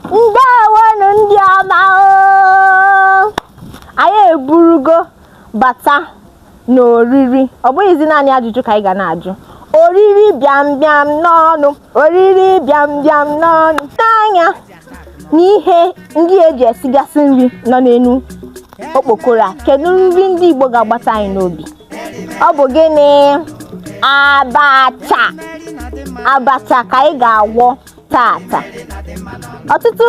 ndewonu ndị ọma oo. anyị eburugo bata n'oriri ọ bụghịzi naanị ajụjụ ka anyị ga na-ajụ oriri bịam bịam n'ọnụ oriri bịam bịam n'ọnụ nee anya na ihe ndị eji esigasị nri nọ n'enu okpokoro a kedu nri ndị igbo ga-agbata anyị n'obi ọ bụ gịnị abacha abacha ka anyị ga-agwọ tata ọtụtụ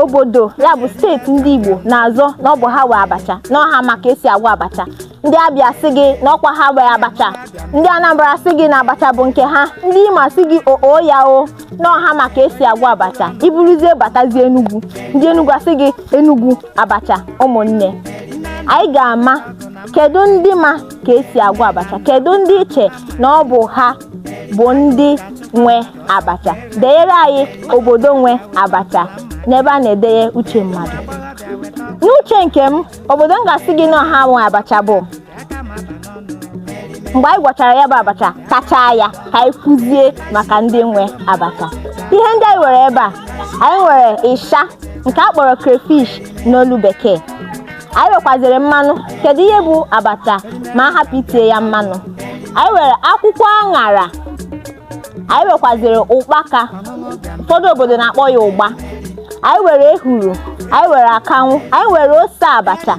obodo ya bụ steeti ndị Igbo na-azọ na ọ bụ ha nwe abacha na ọ ha ma ka esi agwọ abacha ndị Abịa sị gị na ọ kwa ha nwe abacha ndị Anambra sị gị na abacha bụ nke ha ndị Imo sị gị oo ya o na ọ ha ma ka esi agwọ abacha i buruzie batazie Enugu ndị Enugu asị gị Enugu abacha ụmụnne anyị ga-ama kedu ndị ma ka esi agwọ abacha kedu ndị i che na ọ bụ ha bụ ndị nwe abacha denyere anyị obodo nwe abacha n'ebe a na-edenye uche mmadụ n'uche nke m obodo m ga-asị gị na ha nwe abacha bụ mgbe anyị gwọchara ya bụ abacha tachaa ya ka anyị kwuzie maka ndị nwe abacha ihe ndị anyị nwere ebe a anyị nwere ịsha nke a kpọrọ crayfish n'olu bekee anyị nwekwaziri mmanụ kedu ihe bụ abacha ma a hapụ itinye ya mmanụ anyị nwere akwụkwọ aṅara anyị nwekwaziri ụkpaka ụfọdụ obodo na-akpọ ya ụgba anyị nwere ehuru anyị nwere akanwụ anyị nwere ose abacha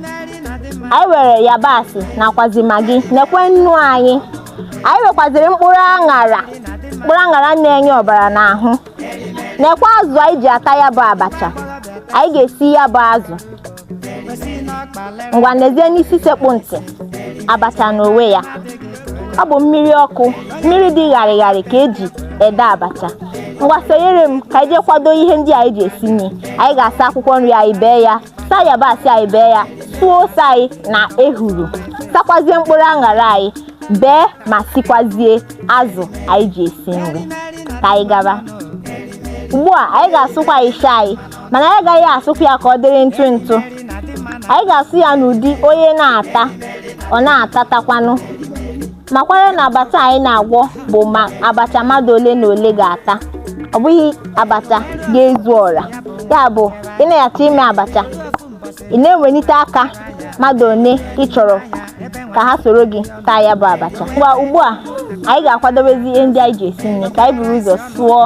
anyị nwere yabasị nakwazi magi nekwe nnu anyị anyị nwekwaziri mkpụrụ aṅara mkpụrụ aṅara na-enye ọbara n'ahụ nekwe azụ anyị ji ata ya bụ abacha anyị ga-esi ya bụ azụ ngwa nezienụ isi sekpụ ntị abacha n'onwe ya ọ bụ mmiri ọkụ mmiri dị ṅarị ṅarị ka eji ede abacha ngwa sonyere m ka anyị jee kwado ihe ndị anyị ji esi nri anyị ga-asa akwụkwọ nri anyị bee ya saa yabasị anyị bee ya sụọ ose anyị na ehuru sakwazie mkpụrụ aṅara anyị bee ma sikwazie azụ anyị ji esi nri ka anyị gaba ugbu a anyị ga-asụkwa ịsha anyị mana anyị agaghị asụkwa ya ka ọ dịrị ntụ ntụ anyị ga-asụ ya n'ụdị onye na-ata ọ na-atatakwanụ makwara na abacha anyị na-agwọ bụ ma abacha mmadụ ole na ole ga-ata ọ bụghị abacha ga-ezu ọra ya bụ ị na-achọ ime abacha ị na-ewelite aka mmadụ one ị chọrọ ka ha soro gị taa ya bụ abacha ngwa ugbu a anyị ga-akwadobezi ihe ndị anyị ji esi nri ka anyị buru ụzọ sụọ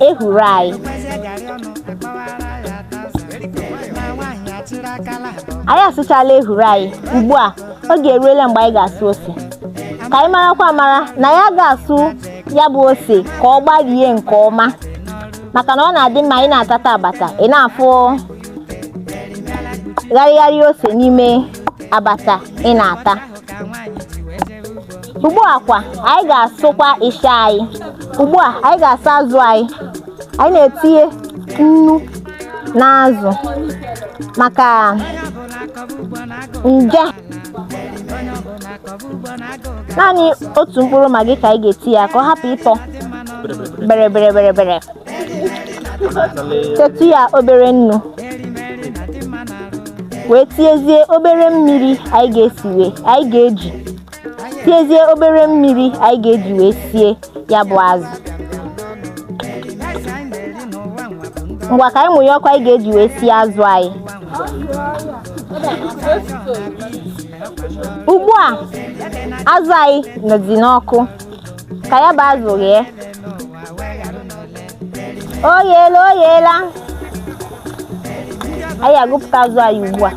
ehuru anyị anyị asụchala ehuru anyị ugbu a oge eruola mgbe anyị ga-asụ ose ka anyị marakwa amara na ya ga-asụ ya bụ ose ka ọ gbarie nke ọma maka na ọ na-adị mma ị na-atata abata ị na-afụ gharịgharị ose n'ime abacha ị na-ata ugbu a kwa anyị ga-asụkwa ịsha anyị ugbu a anyị ga-asa azụ anyị anyị na-etinye nnu na azụ maka nje naanị otu mkpụrụ maggi ka anyị ga-etinye ka ọ hapụ ịtọ bere bere bere bere Tietụ ya obere nnu wee tiezie obere mmiri anyị ga-esi wee anyị ga-eji tiezie obere mmiri anyị ga-eji wee sie ya bụ azụ ngwa ka anyị mụnye ọkụ anyị ga-eji wee sie azụ anyị ugbu a azụ anyị nọzi n'ọkụ ka ya bụ azụ ghee o yeela o yeela anyị agụpụta azụ anyị ugbu a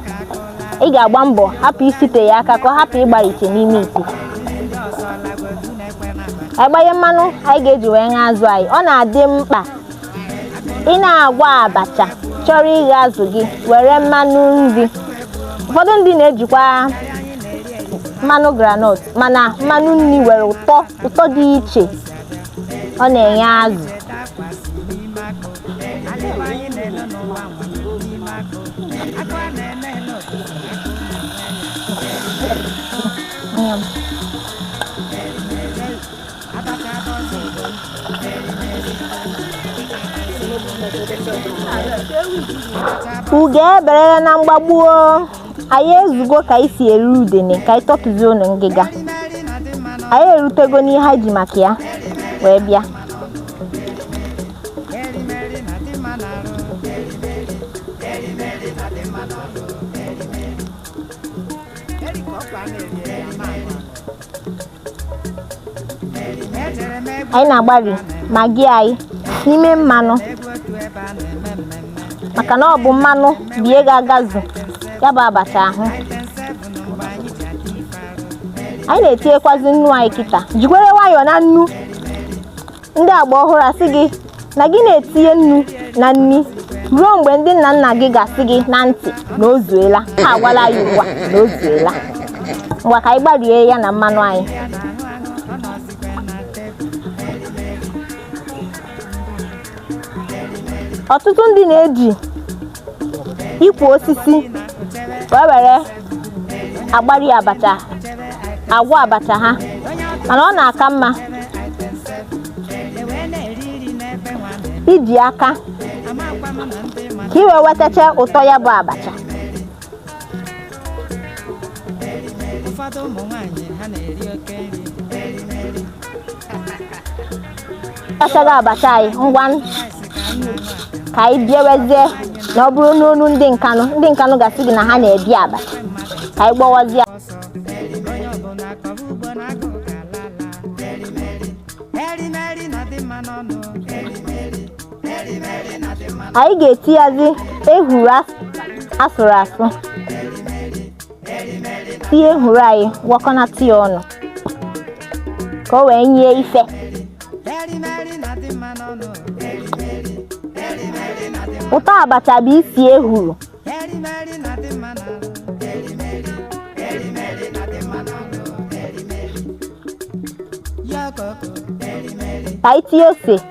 ị ga-agba mbọ hapụ isite ya aka ka ọ hapụ ịgbarite n'ime ite ka anyị gbanye mmanụ anyị ga-eji wee ṅaa azụ anyị ọ na-adị mkpa ị na-agwa abacha chọrọ ighe azụ gị were mmanụ nri ụfọdụ ndị na-ejikwa mmanụ granọt mana mmanụ nri nwere ụtọ ụtọ dị iche ọ na-enye azụ ugo eberela na mgbagbu o anyị ezugo ka anyị si eri udene ka anyị tọtuzienụ ngịga anyị erutego n'ihe anyị ji maka ya wee bịa anyị na-agbari maggi anyị n'ime mmanụ maka na ọ bụ mmanụ bụ ihe ga-agazu ya bụ abacha ahụ anyị na-etinyekwazi nnu anyị kịta jikwara nwayọọ na nnu ndị agba ọhụrụ asị gị na gị na-etinye nnu na nri ruo mgbe ndị nna nna gị ga-asị gị na ntị na o zuela ha agwala anyị ugbu a na o zuela ngwa ka anyị gbarie ya na mmanụ anyị ọtụtụ ndị na-eji ikwe osisi wee were agbari abacha agwọ abacha ha mana ọ na-aka mma iji aka ka i wee wetacha ụtọ ya bụ abacha ụfọdụ ụmụ nwaanyị ha na-eri oke nri asachago abacha anyị ngwa ka anyị biwezie na ọ bụrụ n'ọnụ ndị nkanụ ndị nkanụ ga-asị gị na ha na-ebi aba ka anyị gwọwazie anyị ga-etiyazi ehuru asụrụ asụ ehuru anyị gwọkọnata ya ọnụ ka o wee nye ife ụtọ abacha bụ isi ehuru ka anyị tinye ose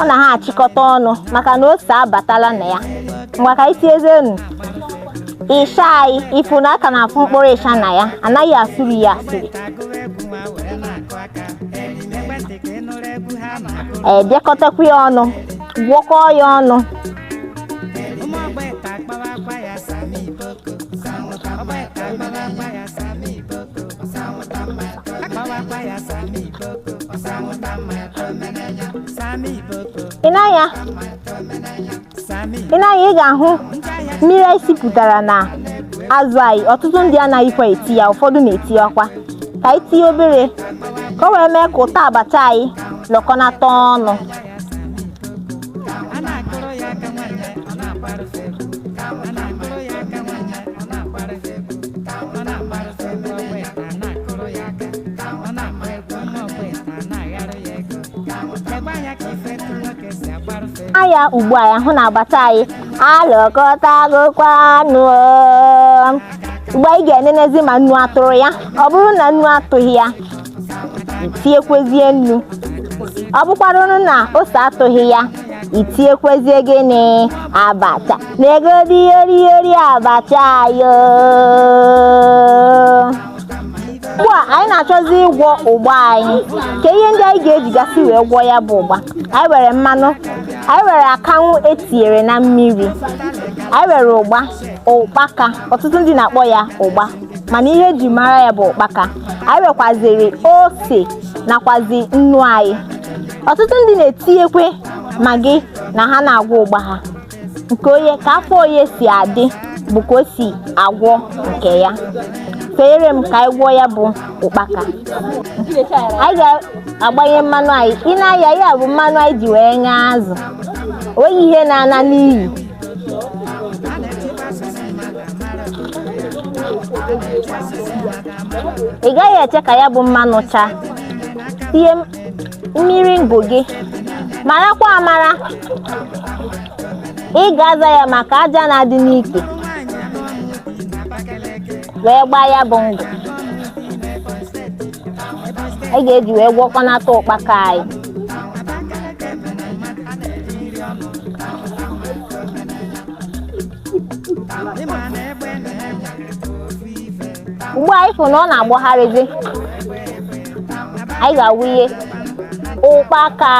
ọ na ha achịkọta ọnụ maka na ose abatala na ya ngwa ka anyị tiezenu ịsha anyị ị fụ na a ka na-afụ mkpụrụ ịsha na ya anaghị asụri ya asụri ebikọtakwa ya ọnụ gwọkọọ ya ọnụ akpawakwa ya sami iboko sami iboko ị na-anya sami ị na-anya ị ga-ahụ mmiri anyị sipụtara na azụ anyị ọtụtụ ndị anaghịkwa eti ya ụfọdụ na-eti ya kwa ka anyị tinye obere ka o wee mee ka ụtọ abacha anyị lọkọnata ọnụ ya ugbu a ya hụ na abacha anyị alọkọtagokwa ọnụ ugbu a anyị ga-enenezi ma nnu atụrụ ya ọ bụrụ na nnu atụghị ya i tiekwezie nnu ọ bụkwaranụ na ose atụghị ya i tiekwezie gịnị abacha na-egodi yori yori abacha yo ugbu a anyị na-achọzi ịgwọ ụgba anyị kee ihe ndị anyị ga-ejigasị wee gwọọ ya bụ ụgba anyị were mmanụ anyị were akanwụ e tinyere na mmiri anyị were ụgba ụkpaka ọtụtụ ndị na-akpọ ya ụgba mana ihe e ji mara ya bụ ụkpaka anyị wekwaziri ose nakwazi nnu anyị ọtụtụ ndị na-etinyekwe magi na ha na-agwọ ụgba ha nke onye ka afọ onye si adị bụ ka o si agwọ nke ya feere m ka anyị gwọọ ya bụ ụkpaka anyị ga-agbanye mmanụ anyị ị na-aya ya bụ mmanụ anyị ji wee ṅaa azụ o nweghị ihe na-ana n'iyi ị gaghị eche ka ya bụ mmanụ chaa tinye m- mmiri ngụ gị marakwa amara ị ga-aza ya maka aja na-adị n'ike wee gbaa ya bụ ngụ ị ga-eji wee gwọkọnata ụkpaka anyị ugbu a anyị fụ na ọ na-agbagharịzi anyị ga-awụnye ụkpaka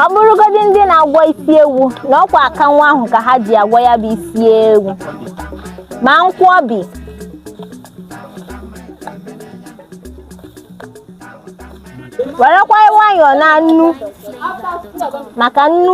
ọ bụrụgodị ndị na-agwọ isi ewu na ọkwa akanwụ ahụ ka ha ji agwọ ya bụ isi ewu ma nkwọbi werekwa nwayọọ na nnu maka nnu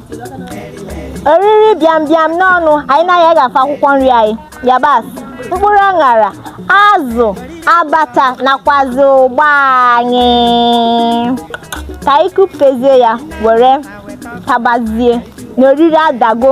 oriri bịambịam n'ọnụ anyị anaghị agafe akwụkwọ nri anyị yabasị mkpụrụ aṅara azụ abata nakwazi ụgba anyị ka anyị kụpezie ya were tabazie na oriri adago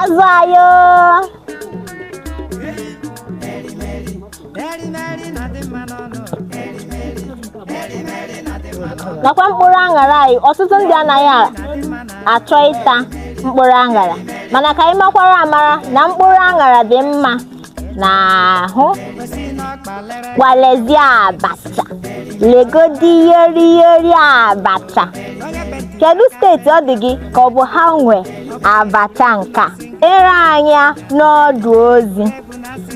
azụ ayo nakwa mkpụrụ aṅara anyị ọtụtụ ndị anaghị a- achọ ịta mkpụrụ aṅara mana ka anyị makwara amara na mkpụrụ aṅara dị mma n'ahụ gwalezi abacha legodi yori yori abacha kedu steeti ọ dị gị ka ọ bụ ha nwe abacha nke a deere anyị n'ọdụ ozi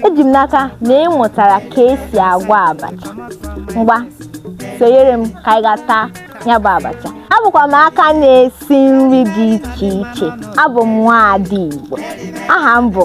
eji m n'aka na ị mụtara ka esi agwa abacha ngwa sonyere m ka anyị ga taa ya bụ abacha abụkwa m aka na-esi nri dị iche iche abụ m nwaada igbo aha m bụ